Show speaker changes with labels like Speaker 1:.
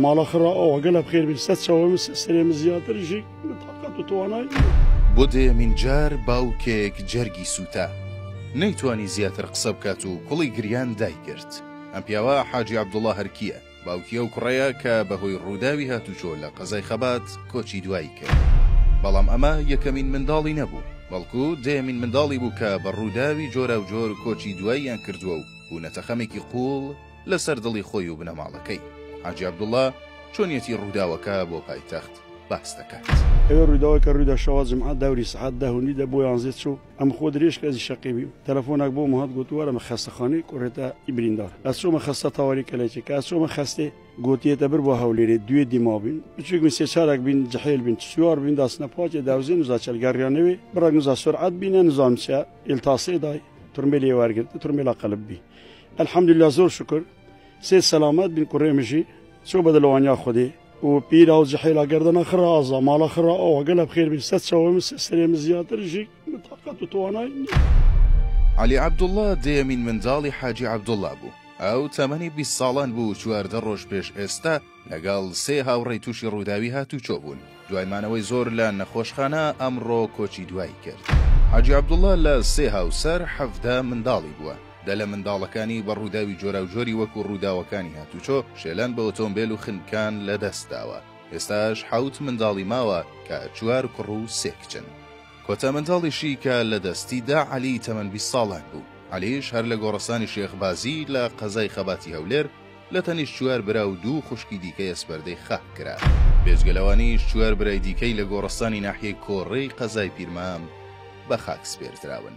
Speaker 1: ماڵە خڕە ئەوەگەلە بخێر بێ سە چەوە سەرێ زیاتر ژی تاقەت و توانای بۆ دەیەمین
Speaker 2: جار باوکێک جەرگی سووتا نەیتوانی زیاتر قسە بکات و کوڵی گریان دایگرت ئەم پیاوە حاجی عەبدوڵا هەرکییە باوکی ئەو کوڕەیە کە بەهۆی ڕووداوی هاتوچۆ لە قەزای خەبات کۆچی دوایی کرد بەڵام ئەمە یەکەمین منداڵی نەبوو بەڵکو دەیەمین منداڵی بوو کە بە ڕووداوی جۆراوجۆر کۆچی دواییان کردووە و بوونەتە خەمێکی قووڵ لەسەر دڵی خۆی و بنەماڵەکەی. حاجی عەبدوڵا چۆنیەتی ڕووداوەکە بۆ پایتەخت باس دەکات. ئەوێ ڕووداوەکە
Speaker 1: ڕوویدا شەوا جمعە دەوری سەعات دە و نیو دە بۆ یانزەی چوو ئەم خۆ درێژ کە ئەزی شەقی بیم تەلەفۆناک بۆم هات گۆت وەرە مە خەستەخانەی کوڕێتە ی بریندار ئەچۆمە خەستە تاوەری کەلێچێ کە ئەچۆمە خەستێ گۆتی یەتە بر بۆ هەولێرێ دوێ دیما بیم بچووک بین سێ چارەک بین جحێل بین چ سوار بین داسنە پاکێ داوزێ نزا چەل گەڕیانەوێ بڕەک نزا سورعەت بینە نزام چیە ئێلتاسێ دای تورمێلێ وەرگرت تورمێلا قەلب بی الحمدللە زۆر شوکر سێ سەلامەت بین کوڕێ مژی چۆ بە دلوانیا خودی و پیرا و جحێلا گەردەنە خڕە ئازا ماڵە خڕە ئەوە گەلە بخێر بین سەد چاوەی من سێ سەرێ من زیاتر ژی من تاقەت و توانای نییە. عەلی
Speaker 2: عەبدوڵڵا دەیەمین منداڵی حاجی عەبدوڵڵا بوو، ئەو تەمەنی بیست ساڵان بوو و چواردە ڕۆژ پێش ئێستا، لەگەڵ سێ هاوڕێی تووشی ڕووداوی هاتووچۆ بوون، دوای مانەوەی زۆر لە نەخۆشخانە، ئەمڕۆ کۆچی دوایی کرد. حاجی عەبدوڵڵا لە سێ هاوسەر، حەڤدە منداڵی بووە، دە لە منداڵەکانی بە ڕووداوی جۆراوجۆری وەکو ڕووداوەکانی هاتووچۆ، شێلان بە ئۆتۆمبێل و خنکان لەدەست داوە. ئێستاش حەوت منداڵی ماوە کە چوار کوڕ و سێ کچن. کۆتا منداڵیشی کە لە دەستی دا عەلی تەمەن بیست ساڵان بوو. عەلیش هەر لە گۆڕستانی شێخ بازی لە قەزای خەباتی هەولێر، لە تەنیشت چوار برا و دوو خوشکی دیکەیە سپەردەی خاک کرا. بێجگە لەوانیش چوار برای دیکەی لە گۆڕستانی ناحیەی کۆڕێی قەزای پیرمام بە خاک سپێردراون.